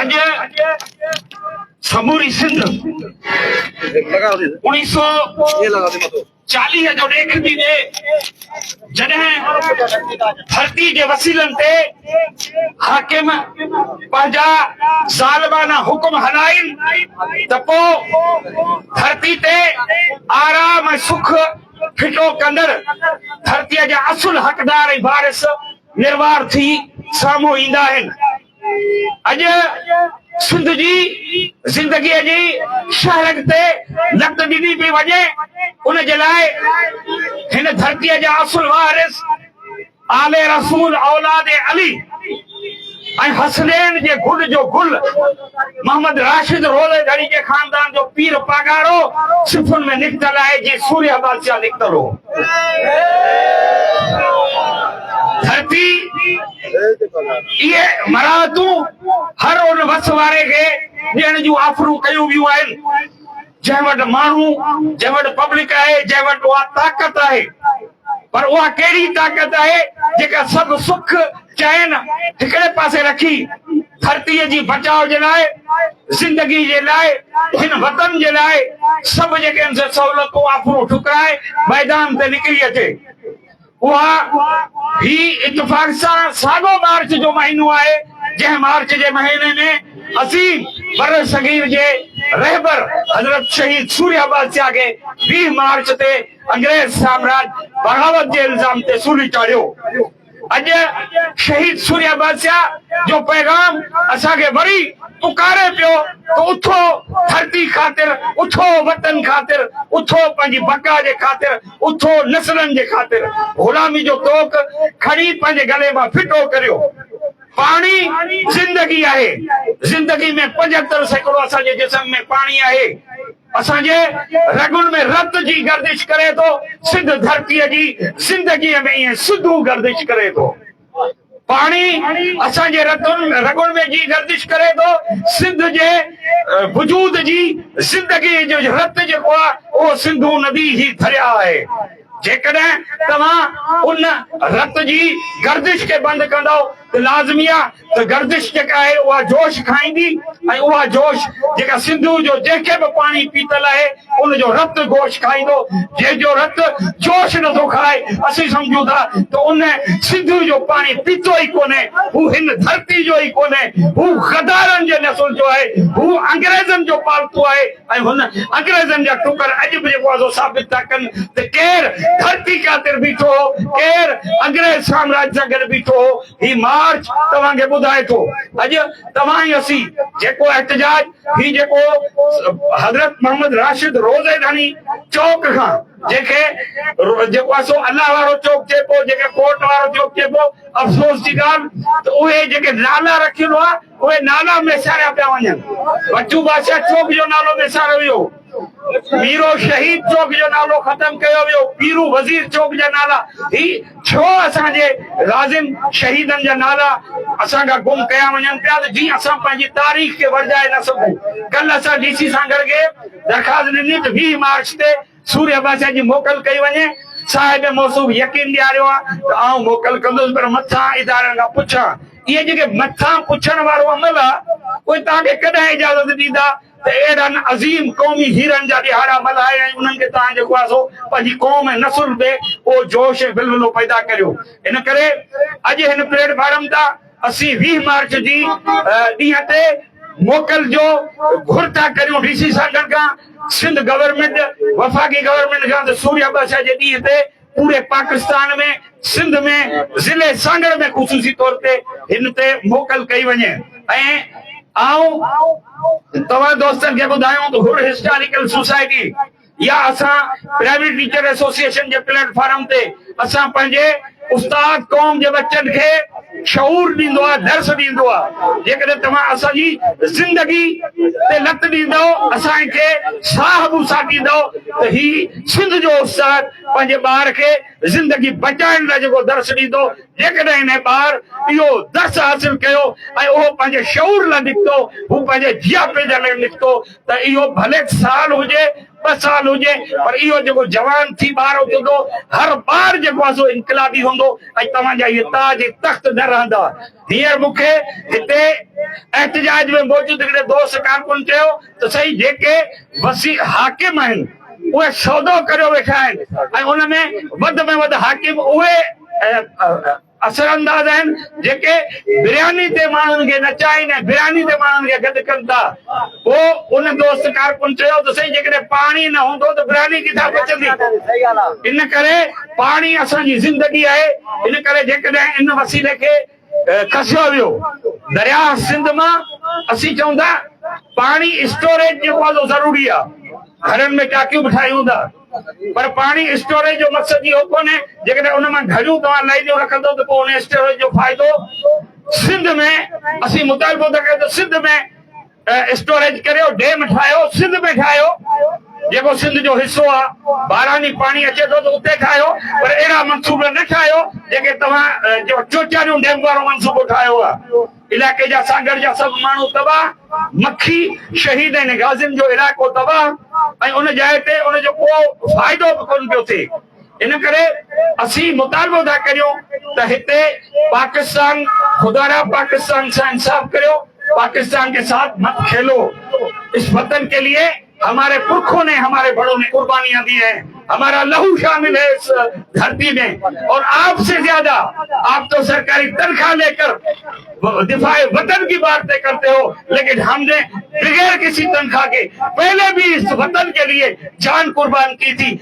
اڄ سموري سنڌ انيس سو چاليهه جو ڏيک ٿي ڏي جڏهن ڌرتي جي وسيلن تي حاڪم پنهنجا ظالمانه حڪم هلائين ته پو ڌرتي تي آرام ۽ سک ڦٽو ڪندڙ ڌرتي جا اصل حقدار ۽ وارث نروار ٿي سامهون ايندا آهن. اڄ سنڌ جي زندگي جي شهرڪ تي نقد ڏني پئي وڃي ان جي لاء هن ڌرتي جا اصل وارث آل رسول اولاد علي ۽ حسنين جي گل جو گل محمد راشد روضي ڌڻي جي خاندان جو پير پاڳارو صفن ۾ نڪتل آهي جيئن سوريه بادشاهه نڪتل هو ڌرتي اهي مراعتون هر ان وس واري کي ڏيڻ جون آفرون ڪيون ويون آهن، جنهن وٽ ماڻهو، جنهن وٽ پبلڪ آهي، جنهن وٽ اها طاقت آهي. پر اها ڪهڙي طاقت آهي، جيڪا سڀ سک، چين هڪڙي پاسي رکي، ڌرتيء جي بچاء جي لاء، زندگي جي لاء، هن وطن جي لاء سڀ جيڪي هن سهولتون، آفرون ٺڪرائي ميدان تي نڪري اچي. اها هي اتفاق سان ساڳو مارچ جو مهينو آهي، جنهن مارچ جي مهيني ۾ عظيم برصغير جي رهبر حضرت شهيد سوريا بادشاهه کي ويهه مارچ تي انگريز سامراج بغاوت جي الزام تي سولي چاڙهيو ويو. اڄ شهيد سوريا بادشاهه جو پيغام اسان کي وري پڪاري پيو ته اٿو ڌرتي خاطر، اٿو وطن خاطر، اٿو پنهنجي بقا جي خاطر. اٿو نسلن جي خاطر غلامي جو طوق کڻي پنهنجي گلي مان ڦٽو ڪريو. پاڻي زندگي آهي. زندگي ۾ پنجهتر سيڪڙو اسان جي جسم ۾ پاڻي آهي. اسان جي رڳن ۾ رت جي گردش ڪري ٿو. سنڌ ڌرتيء جي زندگيء ۾ ائين سڌو گردش ڪري ٿو. پاڻي اسان جي رڳن ۾ جي گردش ڪري ٿو، سنڌ جي وجود جي زندگي جو رت جيڪو آهي اهو سنڌو ندي هي درياء آهي، جيڪڏهن توهان ان رت جي گردش کي بند ڪندؤ ته لازمي آهي ته گردش جيڪا آهي اها جوش کائيندي ۽ اها جوش جيڪا سنڌو جو جنهن کي به پاڻي پيتل آهي ان جو رت گوشت کائيندو، جنهن جو رت جوش نٿو کائي، اسين سمجهون ٿا ته ان سنڌوء جو پاڻي پيتو ئي ڪونهي، هو هن ڌرتي جو ئي ڪونهي، هو غدارن جي نسل جو آهي، هو انگريزن جو پالتو آهي ۽ هن انگريزن جا ٽڪر اڄ به جيڪو آسو ثابت ٿا ڪن ته ڪير ڌرتي خاطر بيٺو هو، ڪير انگريز سامراج سان گڏ بيٺو هو، هي مارچ توهان کي ٻڌائي ٿو. اڄ توهان ۽ اسين جيڪو احتجاج. هي جيڪو حضرت محمد راشد روضي ڌڻي چوڪ کان جنهن کي جيڪو آهي سو الله وارو چوڪ چئي پيو جنهن کي ڪورٽ وارو چوڪ چئي پيو افسوس جي ڳالهه ته اهي جيڪي نالا رکيل هئا اهي نالا وساريا پيا وڃن بچو بادشاهه چوڪ جو نالو وساريو ويو. پيرو شهيد چوڪ جو نالو ختم ڪيو ويو، پيرو وزير چوڪ جا نالا هي ڇو اسان جي غازين شهيدن جا نالا اسان کان گم ڪيا وڃن پيا ته جيئن اسان پنهنجي تاريخ کي ورجائي نه سگهون ڪلهه اسان ڊي سي سان گڏ گيپ درخواست ڏني ته ويهه مارچ تي سوري عباسيا جي موڪل ڪئي وڃي صاحب موصوف يقين ڏياريو آ ته آئون موڪل ڪندس پر مٿان ادارن کان پڇان اهي جيڪي مٿان پڇڻ وارو عمل آ اهي توهان کي ڪڏهن اجازت ڏيندا ته اهڙن عظيم قومي هيرن جا ڏهاڙا ملهائي ۽ انهن کي تان جيڪو آهي سو پنهنجي قوم ۽ نسل ۾ اهو جوش ۽ ولولو پيدا ڪريو ان ڪري اڄ هن پليٽ فارم تان اسين ويهه مارچ جي ڏينهن تي موڪل جو گهر ٿا ڪريون ڊي سي سانگھڙ کان سنڌ گورنمينٽ وفاقي گورنمينٽ کان ته سوريا ٻه سئي جي ڏينهن تي پوري پاڪستان ۾ سنڌ ۾ ضلعي سانگهڙ ۾ خصوصي طور تي هن تي موڪل ڪئي وڃي ۽ آئون توهان دوستن کي ٻڌايون ته حر هسٽاريڪل سوسائٽي يا اسان پرائيويٽ ٽيچر ايسوسيئيشن جي پليٽ فارم تي اسان پنهنجي استاد قوم جي ٻچن کي شعور ڏيندو آهي درس ڏيندو آهي جيڪڏهن توهان اسان جي زندگي تي لت ڏيندؤ اسان کي ساهه به ساٽيندؤ ته هي سنڌ جو استاد پنهنجي ٻار کي زندگي بچائڻ لاء جيڪو درس ڏيندو، جيڪڏهن انهي ٻار اهو درس حاصل ڪيو ۽ اهو پنهنجي شعور لاء نڪتو، هو پنهنجي جياپي جي لاء نڪتو ته اهو ڀلي سال هجي، ٻه سال هجي پر اهو جيڪو جوان ٿي ٻار اٿندو، هر ٻار جيڪو آهي سو انقلابي هوندو ۽ توهان جا اهي تاج ۽ تخت نه رهندا. هينئر مون کي هتي احتجاج ۾ موجود هڪڙي دوست ڪارڪن چيو. ته سائين جيڪي وسيع حاڪم آهن اهي سودو ڪريو ويٺا آهن ۽ ان ۾ وڌ ۾ وڌ حاڪم اهي اثرانداز آهن جيڪي برياني تي ماڻهن کي نچائين ۽ برياني تي ماڻهن کي گڏ ڪن ٿا. پوء ان دوست ڪارڪن چيو ته سائين جيڪڏهن پاڻي نه هوندو ته برياني ڪٿان پچندي؟ ان ڪري پاڻي اسان جي زندگي آهي ان ڪري جيڪڏهن ان وسيلي کي کسيو ويو درياهه سنڌ مان اسين چئون ٿا پاڻي اسٽوريج جي ڪوالو ضروري آ گهرن ۾ ٽاڪيون به ٺاهيون ٿا پر پاڻي اسٽوريج جو مقصد اهو ڪونهي جيڪڏهن ان مان گهڙيون توهان لائينيون رکندو ته پوء ان اسٽوريج جو فائدو سنڌ ۾ اسين مطالبو ٿا ڪيون ته سنڌ ۾ اسٽوريج ڪريو، ڊيم ٺاهيو، سنڌ ۾ ٺاهيو، جيڪو سنڌ جو حصو آ، باراني پاڻي اچي ٿو ته اتي ٺاهيو، پر اهڙا منصوبا نه ٺاهيو جيڪي توهان چوچاريون ڊيم وارو منصوبو ٺاهيو آ، علائقي جا سانگهڙ جا سڀ ماڻهو تباهه، مکي، شهيد ۽ غازين جو علائقو تباهه ۽ ان جاء تي ان جو ڪو فائدو به ڪونه پيو ٿئي. ان ڪري اسين مطالبو ٿا ڪريون ته هتي پاڪستان خدارا پاڪستان سان انصاف ڪريو پاڪستان ڪي ساٿ مت کيلو اس وطن ڪي ليي هماري پرکون ني هماري بڙو ني قربانيان دي هين همارا لهو شامل هي اس ڌرتي مي اور آپ سي زياده آپ تو سرڪاري تنخواه لي ڪر دفاع وطن ڪي بارتي ڪرتي هو ليڪن هم ني بغير ڪسي تنخواه ڪي پهلي بي اس وطن ڪي ليي جان قربان ڪي ٿي